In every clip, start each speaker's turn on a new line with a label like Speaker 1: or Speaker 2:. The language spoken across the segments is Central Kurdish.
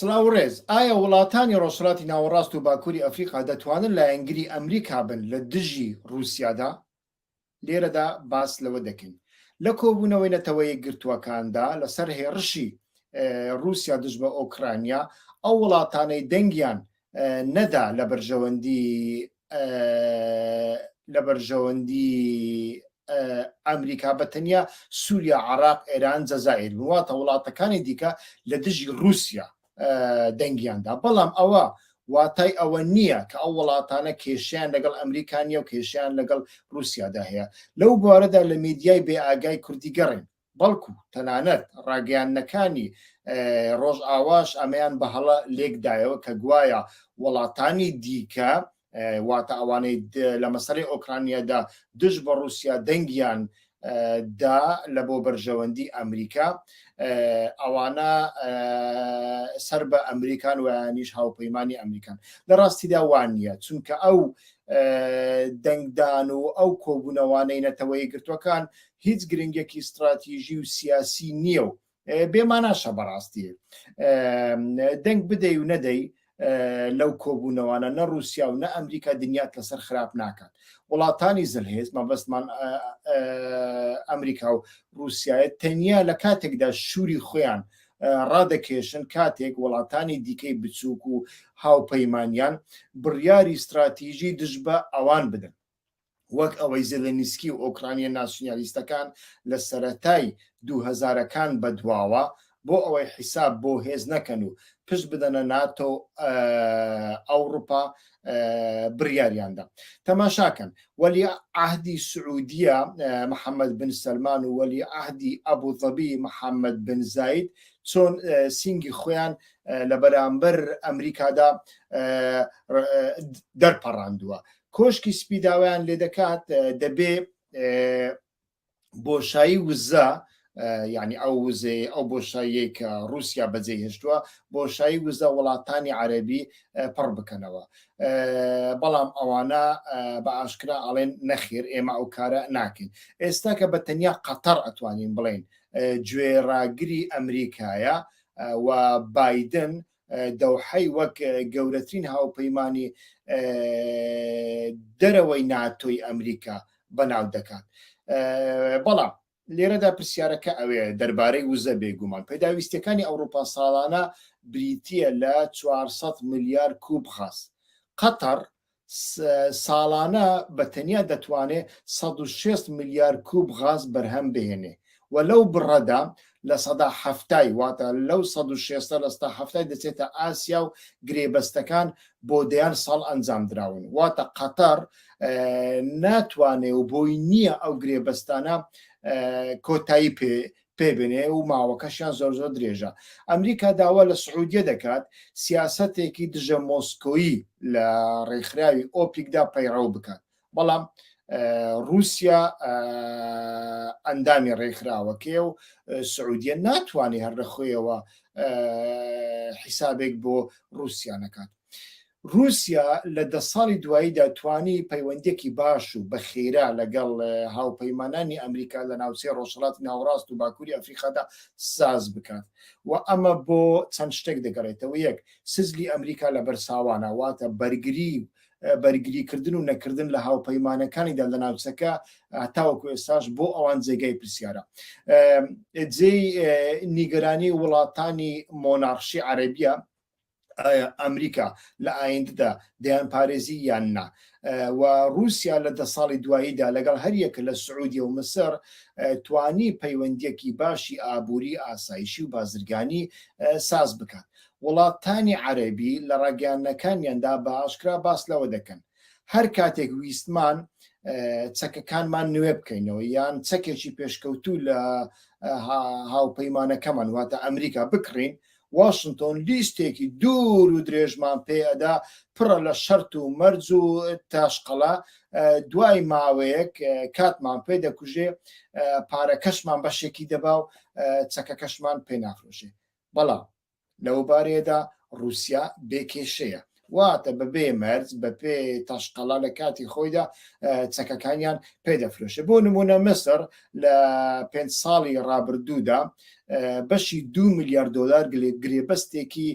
Speaker 1: سڵاو و ڕێز، ئایا وڵاتانی ڕۆژهەڵاتی ناوەڕاست و باکووری ئەفریقا دەتوانن لایەنگری ئەمریکا بن لە دژی ڕووسیادا؟ لێرەدا باس لەوە دەکەین، لە کۆبوونەوەی نەتەوە یەکگرتووەکاندا لەسەر هێڕشی ڕووسیا دژ بە ئۆکرانیا، ئەو وڵاتانەی دەنگیان نەدا لە بەرژەوەندی لە بەرژەوەندی ئەمریکا بە تەنیا سووریا عراق ئێران جەزائر وڵاتە وڵاتەکانی دیکە لە دژی رووسیا دەنگیاندا بەڵام ئەوە واتای ئەوە نییە کە ئەو وڵاتانە کێشیان لەگەڵ ئەمریکانیە و کێشیان لەگەڵ رووسیادا هەیە لەو بارەدا لە میدیای بێ ئاگای کوردی گەڕین بەڵکو تەنانەت ڕاگەیاندنەکانی ڕۆژئاواش ئەمەیان بە هەڵە لێکدایەوە کە گوایە وڵاتانی دیکە واتە ئەوانەی لە مەسەری ئۆکرانیادا دژ بە رووسیا دەنگیان دا لە بۆ بەرژەوەندی ئەمریکا ئەوانە سەر بە ئەمریکان ویانیش هاوپەیمانانی ئەمریکان لە ڕاستیدا وانە چونکە ئەو دەنگدان و ئەو کۆبوونەوانەی نەتەوەی گرتوەکان هیچ گرنگێکی ستراتیژی و سیاسی نییە و بێماناشە بەڕاستی دەنگ بدەی و نەدەی لەو کۆبوونەوانە نە رووسیا و نە ئەمریکا دنیات لەسەر خراپ ناکات وڵاتانی زلهێز مەبەستمان ئەمریکا و رووسایە تەنیا لە کاتێکدا شووری خۆیان ڕادەکێشن کاتێک وڵاتانی دیکەی بچووک و هاوپەیمانیان بڕیاری استراتیژی دژ بە ئەوان بدەن وەک ئەوەی زێلێنیسکی و ئۆکرانییە ناسیونالیستەکان لە سەرەتای دوو هەزارەکان بەدواوە بۆ ئەوەی حیساب بۆ هێز نەکەن و پشت بدەنە ناتۆ و ئەوروپا بڕیاریاندا تەماشاکەن وەلی عهدی سعودیە محەممەد بن سلمان و وەلی عهدی ئەبوو ظەبی محەممەد بن زایت چۆن سینگی خۆیان لە بەرامبەر ئەمریکادا دەرپەڕاندووە کۆشکی سپی داوایان لێ دەکات دەبێ بۆشایی وزە یعنی ئەو وزەیە ئەو بۆشاییەی کە رووسیا بەجێ هێشتووە بۆشایی وزە وڵاتانی عەربی پڕ بکەنەوە بەڵام ئەوانە بە ئاشکرا ئەڵێن نەخێر ئێمە ئەو کارە ناکەین ئێستا کە بە تەنیا قەتەر ئەتوانین بڵێن گوێ ڕاگری ئەمریکایە و بادن دەوحەی وەک گەورەترین هاوپەیمانی دەرەوەی ناتۆی ئەمریکا بەناو دەکات بەڵام لێرەدا پرسیارەکە ئەوێ دەربارەی وزە بێگومان پێداویستەکانی ئەوروپا ساڵانە بریتە لە 400 ملیار کوب خاست قەتەر ساڵانە بە تەنیا دەتوانێ سەد و شەست ملیار کووب غاز بەرهەم بهێنێ و لەو بڕەدا لە سەدا حەفتای واتە لەو سەد و شێستە لە ستا حەفتای دەچێتە ئاسیا و گرێبەستەکان بۆ دەیان ساڵ ئەنجام دراون واتە قەتەڕ ناتوانێ و بۆی نییە ئەو گرێبەستانە کۆتایی پێ پێ بنێ و ماوەکەشیان زۆر زۆر درێژە ئەمریکا داوا لە سعودیە دەکات سیاسەتێکی دژە مۆسکۆیی لە ڕێکخراوی ئۆپیکدا پەیڕەو بکات بەڵام رووسیا ئەندامی ڕێکخراوەکەی و سعودیە ناتوانێت هەر لە خۆیەوە حیسابێک بۆ رووسیا نەکات رووسیا لە دە ساڵی دواییدا توانی پەیوەندییەکی باش و بە خێرا لەگەڵ هاوپەیمانانی ئەمریکا لە ناوچەی رۆژهەڵاتی ناوەڕاست و باکووری ئەفریقادا ساز بکات و ئەمە بۆ چەند شتێک دەگەڕێتەوە، یەک، سجلی ئەمریکا لە بەر ساوانە، واتە بەرگری و بەرگریکردن و نەکردن لە هاوپەیمانەکانیدا لە ناوچەکە تاوەکو ئێستاش بۆ ئەوان جێگای پرسیارە. جێی نیگەرانی وڵاتانی مۆناڕشی عەرەبییە، ئایا ئەمریکا لە ئایندەدا دەیان پارێزی یان نا و رووسیا لە دە ساڵی دواییدا لەگەڵ هەریەکە لە سعودیە و مسر توانی پەیوەندیەکی باشی ئابووری ئاسایشی و بازرگانی ساز بکات وڵاتانی عەربی لە ڕاگەیانەکانیاندا بە ئاشکرا باس لەوە دەکەن هەر کاتێک ویستمان چەکەکانمان نوێ بکەینەوە یان چەکێکی پێشکەوتوو لە هاوپەیمانەکەمان واتە ئەمریکا بکڕین واشنتۆن لیستێکی دوور و درێژمان پێ ئەدا پڕە لە شەرت و مەرج و تاشقەڵە دوای ماوەیەک کاتمان پێ دەکوژێ پارەکەشمان بەشێکی دەبا و چەکەکەشمان پێ نافرۆشێ بەڵام لەو بارەیەدا رووسیا بێکێشەیە واتە بە بێ مەرج بە پێ تاشقەڵا لە کاتی خۆیدا چەکەکانیان پێدەفرۆشێ بۆ نمونە مسر لە پێ ساڵی ڕابردوودا بەشی دو میلیارد دلار گرێبەستێکی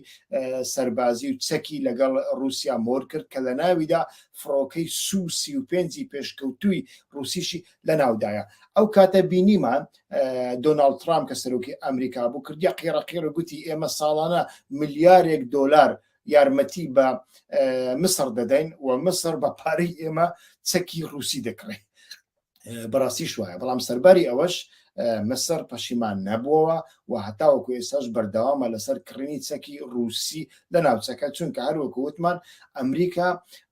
Speaker 1: سەربازی و چەکی لەگەڵ رووسیا مۆر کرد کە لە ناویدا فڕۆکەی سو سی و پێنجی پێشکەوتووی رووسیشی لە ناودایە ئەو کاتە بینیمان دۆناالد ترام کە سەرۆکی ئەمریکا بوو کردیا قیڕەقیڕ گوتی ئێمە ساڵانە ملیارێک دلار یارمەتی بە مسر دەدەین و مسر بە پارەی ئێمە چەکی رووسی دەکڕێت بەڕاستی شوایە بەڵام سەرباری ئەوەش مسر پەشیمان نەبووەوە و هەتاوەکو ئێساش بەردەوامە لەسەر کڕینی چەکی رووسی لە ناوچەکە چونکە هەروەکو وتمان ئەمریکا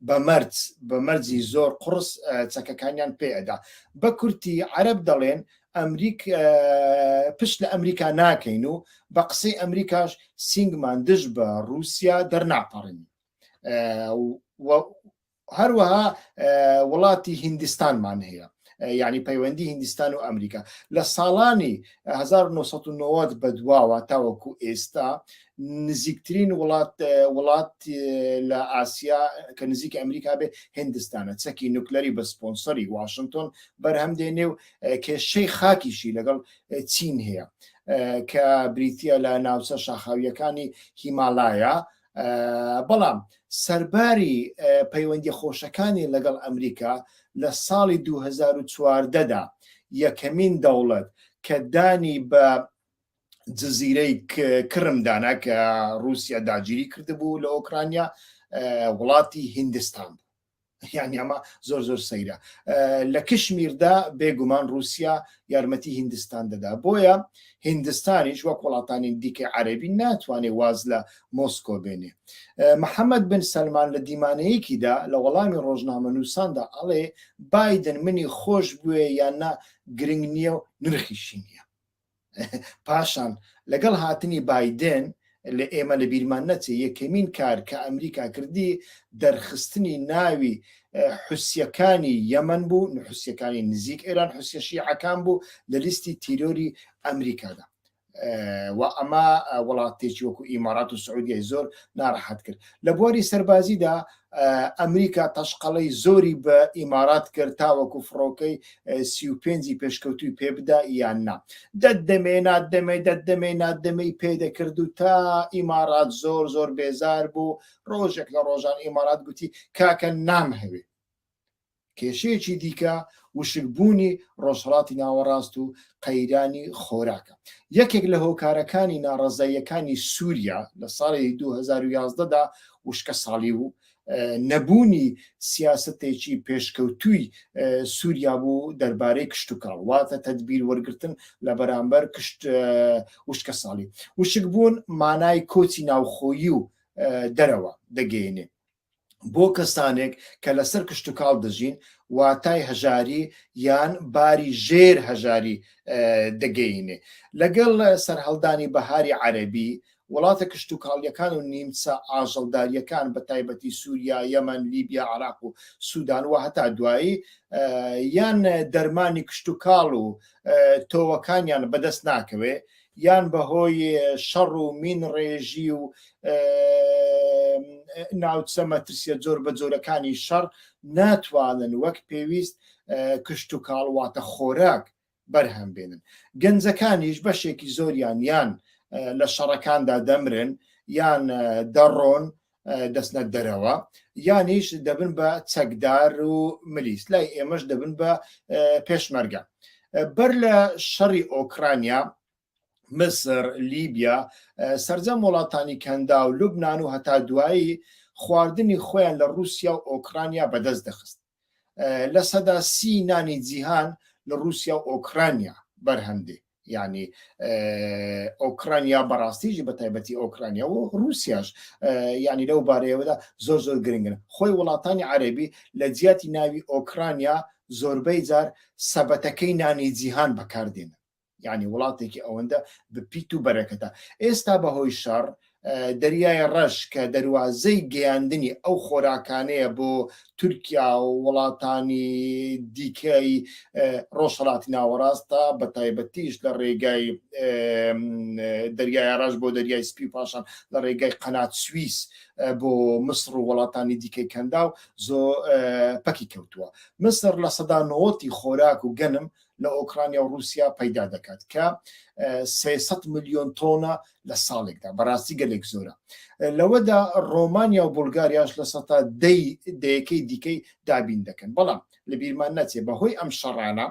Speaker 1: بە مەرج بە مەرجی زۆر قڕس چەکەکانیان پێدا بە کورتی عرب دەڵێن ئەمریک پشت لە ئەمریکا ناکەین و بە قسەی ئەمریکاش سینگمان دژ بە رووسیا دەرناپەڕین هەروەها وڵاتی هندستانمان هەیە یعنی پەیوەندی هندستان و ئەمریکا لە ساڵانی 1990 بە دواوە تاوەکو ئێستا نزیکترین وڵات وڵات لە ئاسیا کە نزیک ئەمریکا بێ هندستانە چەکی نوکلەری بە سپۆنسەری واشنگتۆن بەرهەم دێنێ و کێشەی خاکیشی لەگەڵ چین هەیە کە بریتە لە ناوچە شاخاویەکانی هیمالایە بەڵام سەرباری پەیوەندی خۆشەکانی لەگەڵ ئەمریکا لە ساڵی 2014دا یەکەمین دەوڵەت کە دانی بە جززیرەی کرمدانە کە رووسیا داگیری کردبوو لە ئۆکرانیا وڵاتی هندستان یعنی ئەمە زۆر زۆر سەیرە لە کشمیردا بێگومان رووسیا یارمەتی هندستان دەدا بۆیە هندستانیش وەک وڵاتانی دیکە عەربی ناتوانێت واز لە مۆسکۆ بێنێ محەممەد بن سلمان لە دیمانەیەکیدا لە وەڵامی ڕۆژنامە نووساندا ئەڵێ بادن منی خۆش بوێ یان نا گرنگ نییە و نرخیشی نییە پاشان لەگەڵ هاتنی بایدێن لە ئێمە لە بیرمان نەچێ یەکەمین کار کە ئەمریکا کردی دەرخستنی ناوی حوسیەکانی یەمەن بوو حوسیەکانی نزیک ئێران حوسیە شیعەکان بوو لە لیستی تیرۆری ئەمریکادا و ئەمە وڵاتێکی وەکو ئیمارات و سعودیای زۆر ناڕەحەت کرد لە بواری سەربازیدا ئەمریکا تەشقەڵەی زۆری بە ئیمارات کرد تاوەکو فڕۆکەی سی و پێنجی پێشکەوتوی پێبدا یان نا دەت دەمێ نات دەمێ دەت دەمێ نات دەمەی پێدەکرد و تا ئیمارات زۆر زۆر بێزار بوو ڕۆژێک لە ڕۆژان ئیمارات گوتی کاکە نامهەوێ کێشەیەکی دیکە وشکبوونی ڕۆژهەڵاتی ناوەڕاست و قەیرانی خۆراکە. یەکێک لە هۆکارەکانی ناڕەزاییەکانی سووریا لە ساڵی دوو هەزار و یازدە دا وشکەساڵی بوو، نەبوونی سیاسەتێکی پێشکەوتووی سووریا بوو دەربارەی کشتوکاڵ، واتە تەدبیر وەرگرتن لە بەرامبەر وشکەساڵی. وشکبوون مانای کۆچی ناوخۆیی و دەرەوە دەگەیەنێ. بۆ کەسانێک کە لەسەر کشتوکاڵ دەژین واتای هەژاری یان باری ژێر هەژاری دەگەینێ لەگەڵ سەرهەڵدانی بەهاری عەربی وڵاتە کشتوکاڵیەکان و نیمچە ئاژەڵداریەکان بە تایبەتی سووریا یەمەن لیبیا عراق و سوودان و هەتا دوایی یان دەرمانی کشتوکاڵ و تۆوەکانیان بەدەست ناکەوێ یان بە هۆی شەڕ و مین ڕێژی و ناوچە مەترسیە جۆر بە جۆرەکانی شەڕ ناتوانن وەک پێویست کشت و کاڵواتە خۆراک بەرهەم بێنن گەنجەکانیش بەشێکی زۆریان یان لە شەڕەکاندا دەمرن یان دەڕۆن دەستنە دەرەوە یانیش دەبن بە چەکدار و ملیس لای ئێمەش دەبن بە پێشمەرگە بەر لە شەڕی ئۆکرانیا مسر لیبیا سرجەم وڵاتانی کەندا و لوبناان و هەتا دوایی خواردنی خۆیان لە رووسیا و ئۆکرانیا بەدەست دەخست لە سەدا سی نانی جیهان لە رووسیا و ئۆکرانیا بەرهەمدێ ینی ئۆکرانیا بەڕاستیژی بە تایبەتی ئۆکرانیا و رووسیاش ینی لەو بارەیەوەدا زۆر زۆر گرنگن خۆی وڵاتانی عەربی لە جیاتی ناوی ئۆکرانیا زۆربەی جار سەبەتەکەی نانی جیهان بەکاردێنن یعنی وڵاتێکی ئەوەندە بپیت و بەرەکەتە ئێستا بەهۆی شەڕ دەریای ڕەش کە دەواازەی گەیاندنی ئەو خۆراکانەیە بۆ تورکیا و وڵاتانی دیکەی ڕۆژهڵاتی ناوەڕاستە بە تایبەتیش لە ڕێگای دەریای ڕژ بۆ دەریای سپی پاشان لە ڕێگای قەنات سوئیس بۆ مسر و وڵاتانی دیکەی کەندا و زۆ پەکی کەوتووە مسر لە سەدا نەوەتی خۆراک و گەنم لە لە ئۆکرانیا و رووسیا پەیدا دەکات کە 300 ملیۆن تۆنە لە ساڵێکدا بەڕاستی گەلێک زۆرە لەوەدا ڕۆمانیا و بولگاریاش لە سەتا دەی دەیەکەی دیکەی دابین دەکەن بەڵام لە بیرمان نەچێ بەهۆی ئەم شەڕانە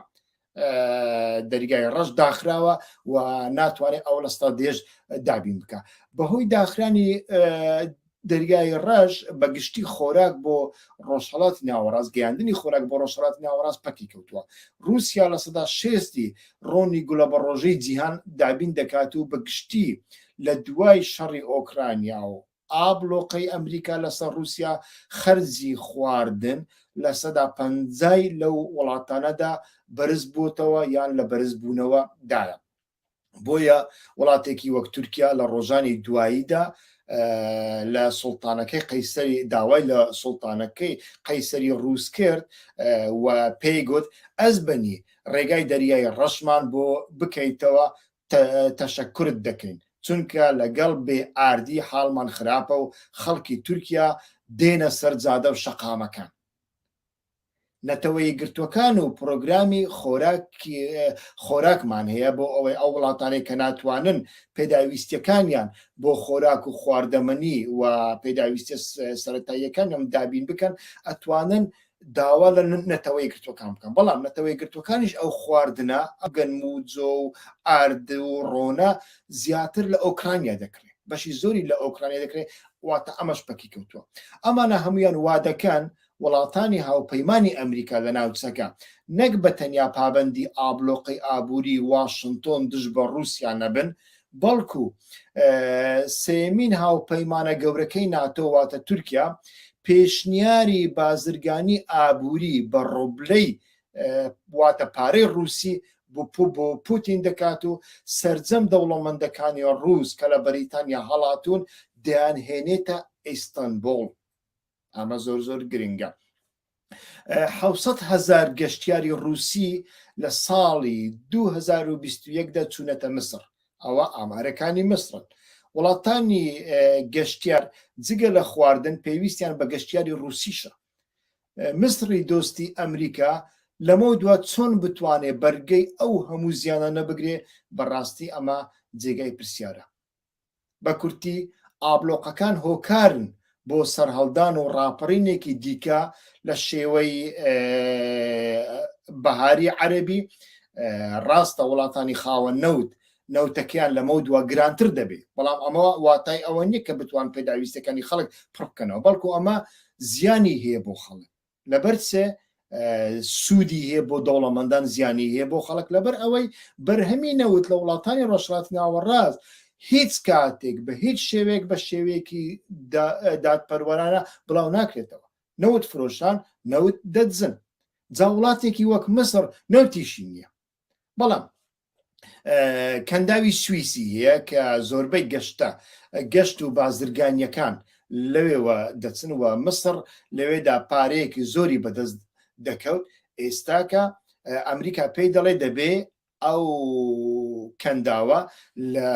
Speaker 1: دەرگای ڕەش داخراوە و ناتوانێت ئەو لەستا دێژ دابین بکە بەهۆی داخرانی دەریای ڕەش بە گشتی خۆراک بۆ ڕۆژهەڵاتی ناوەڕاست، گەیاندنی خۆراک بۆ ڕۆژهەڵاتی ناوەڕاست پەکی کەوتووە. ڕووسیا لە سەدا شێستی ڕۆنی گوڵەبەڕۆژەی جیهان دابین دەکات و بە گشتی لە دوای شەڕی ئۆکرانیا و ئابڵۆقەی ئەمریکا لەسەر ڕووسیا خەرجی خواردن لە سەدا پەنجای لەو وڵاتانەدا بەرزبووەتەوە یان لە بەرزبوونەوە دایە. بۆیە وڵاتێکی وەک تورکیا لە ڕۆژانی دواییدا لە سوڵتانەکەی قەیسەری داوای لە سوڵتانەکەی قەیسەری ڕووس کرد و پێی گوت ئەس بەنی ڕێگای دەریای ڕەشمان بۆ بکەیتەوە تەشەکرت دەکەین چونکە لەگەڵ بێ ئاردی حاڵمان خراپە و خەڵکی تورکیا دێنە سەر جادە و شەقامەکان نەتەوە یەکگرتووەکان و پرۆگرامی خۆراکمان هەیە بۆ ئەوەی ئەو وڵاتانەی کە ناتوانن پێداویستیەکانیان بۆ خۆراک و خواردەمەنی و پێداویستە سەرەتاییەکانم دابین بکەن ئەتوانن داوا لە نەتەوە یەکگرتووەکان بکەن بەڵام نەتەوە یەکگرتووەکانیش ئەو خواردنە ئەگەن موجۆ و ئارد و ڕۆنە زیاتر لە ئۆکرانیا دەکرێت بەشی زۆری لە ئۆکرانیا دەکرێت واتە ئەمەش پەکی کەوتووە ئەمانە هەمویان وادەکەن وڵاتانی هاوپەیمانی ئەمریکا لە ناوچەکە، نەک بە تەنیا پابەندی ئابلۆقەی ئابووری واشنتۆن دژ بە ڕووسیا نەبن، بەڵکو سێیەمین هاوپەیمانە گەورەکەی ناتۆ واتە تورکیا، پێشنیاری بازرگانی ئابووری بە ڕۆبلەی واتە پارەی ڕووسی بۆ پوتین دەکات و سرجەم دەوڵەمەندەکانی ڕووس کە لە بەریتانیا هەڵاتون دەیان هێنێتە ئیستەنبوڵ. ئەمە زۆر زۆر گرنگە حوسەت هزار گەشتیاری رووسی لە ساڵی 2021دا چوونەتە مسر ئەوە ئامارەکانی مسرن وڵاتانی گەشتیار جگە لە خواردن پێویستیان بە گەشتیاری رووسیشە مسری دۆستی ئەمریکا لەمە دوا چۆن بتوانێت بەرگەی ئەو هەموو زیانە نەبگرێ بەڕاستی ئەمە جێگای پرسیارە بە کورتی ئابلۆقەکان هۆکارن بۆ سەرهەڵدان و ڕاپەڕینێکی دیکە لە شێوەی بەهاری عەربی ڕاستە وڵاتانی خاوە نەوت نەوتەکەیان لەمە دوا گرانتر دەبێت بەڵام ئەمە واتای ئەوە نییە کە بتوان پێداویستەکانی خەڵک پڕکەنەوە بەڵکو ئەمە زیانی هەیە بۆ خەڵک لەبەر سێ سوودی هەیە بۆ دەوڵەمەندان زیانی هەیە بۆ خەڵک لەبەر ئەوەی بەرهەمی نەوت لە وڵاتانی ڕۆژهڵات ناوەڕاست هیچ کاتێک بە هیچ شێوێک بە شێوەیەکی دادپەروەرانە بڵاو ناکرێتەوە نەوت فرۆشان نەوت دەدزن جا وڵاتێکی وەک مسر نەوتیشی نییە بەڵام کەنداوی سوئیسی هەیە کە زۆربەی گەشتە گەشت و بازرگانیەکان لەوێوە دەچن و مصر لەوێدا پارەیەکی زۆری بەدەست دەکەوت ئێستاکە ئەمریکا پێی دەڵێ دەبێ ئەو کەنداوە لە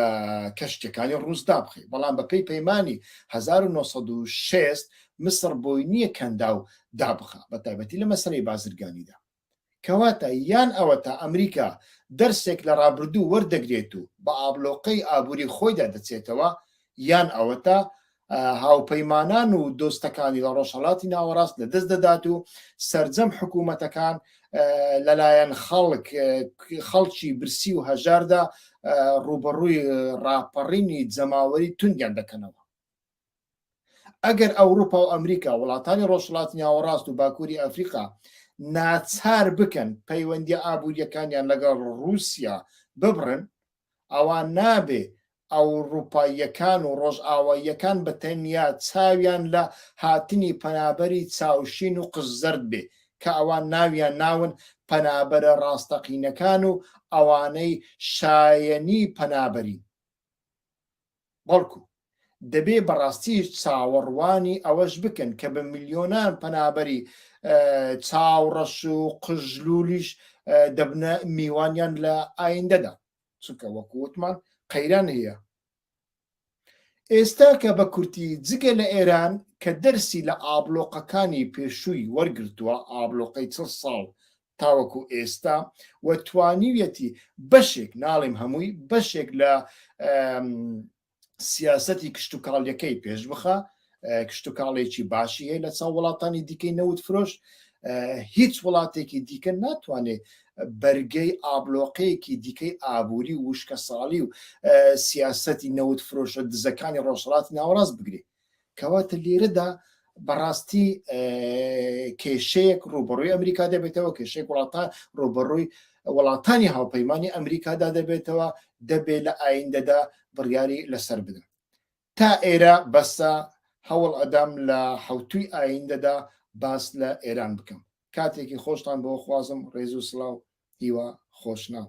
Speaker 1: کەشتەکانی ڕووسدا بخی بەڵام بەپی پەیمانانی 1960 مصر بۆی نییە کەندا و دابخە بە تایبەتی لە مەسەی بازرگانیدا کەواتە یان ئەوەتا ئەمریکا دەرسێک لە ڕابردوو وەردەگرێت و بە ئابڵۆقەی ئابووری خۆیدا دەچێتەوە یان ئەوەتا هاوپەیمانان و دۆستەکانی لە ڕۆژهەڵاتی ناوەڕاست لە دەست دەدات و سرجەم حکوومەتەکان لەلایەن خەڵک خەڵکی برسی و هەژاردا ڕوبەڕووی ڕاپەڕینی جەماوەری توندیان دەکەنەوە ئەگەر ئەوروپا و ئەمریکا وڵاتانی ڕۆژهڵاتی ناوەڕاست و باکووری ئەفریقا ناچار بکەن پەیوەندی ئابوووریەکانیان لەگەڵ ڕووسیا ببڕن ئەوە نابێ ئەوروپاییەکان و ڕۆژئاواییەکان بە تەنیا چاویان لە هاتنی پەنابەری چاوشین و قژزەرد بێ کە ئەوان ناویان ناون پەنابەرە ڕاستەقینەکان و ئەوانەی شایەنی پەنابەرین بەڵکو دەبێ بەڕاستیش چاوەڕوانی ئەوەش بکەن کە بە ملیۆنان پەنابەری چاوڕەش و قژلولیش دەبنە میوانیان لە ئایندەدا چونکە وەکو وتمان قەیران هەیە ئێستا کە بە کورتی جگە لە ئێران کە دەرسی لە ئابلۆقەکانی پێشووی وەرگرتووە ئابلۆقەی چل ساڵ تاوەکو ئێستا و توانیویەتی بەشێک ناڵیم هەمووی بەشێک لە سیاستی کشتتوکاڵیەکەی پێش بخە کشتتوکاڵێکی باشی هەیە لە چاو وڵاتانی دیکەی نەوت فرۆش هیچ وڵاتێکی دیکە ناتوانێت بەرگەی ئابلۆقەیەکی دیکەی ئابووری وشکە ساڵی و سیاستی نەوت فرۆشە دزەکانی ڕۆژهڵاتی ناوەڕاست بگرێت کەواتە لیرەدا بەڕاستی کێشەیەک ڕوبڕووی ئەمریکا دەبێتەوە کێشێک وڵاتان ڕوبڕووی وڵاتانی هاوپەیمانانی ئەمریکادا دەبێتەوە دەبێت لە ئایندەدا بڕیاری لەسەر بدەن تا ئێرە بەسە هەوڵ ئەدام لە حوتوی ئایندەدا باس لە ئێران بکەم کاتێکی خۆشتان بۆ خوازم ڕێز و سلااو هیوا خۆشناو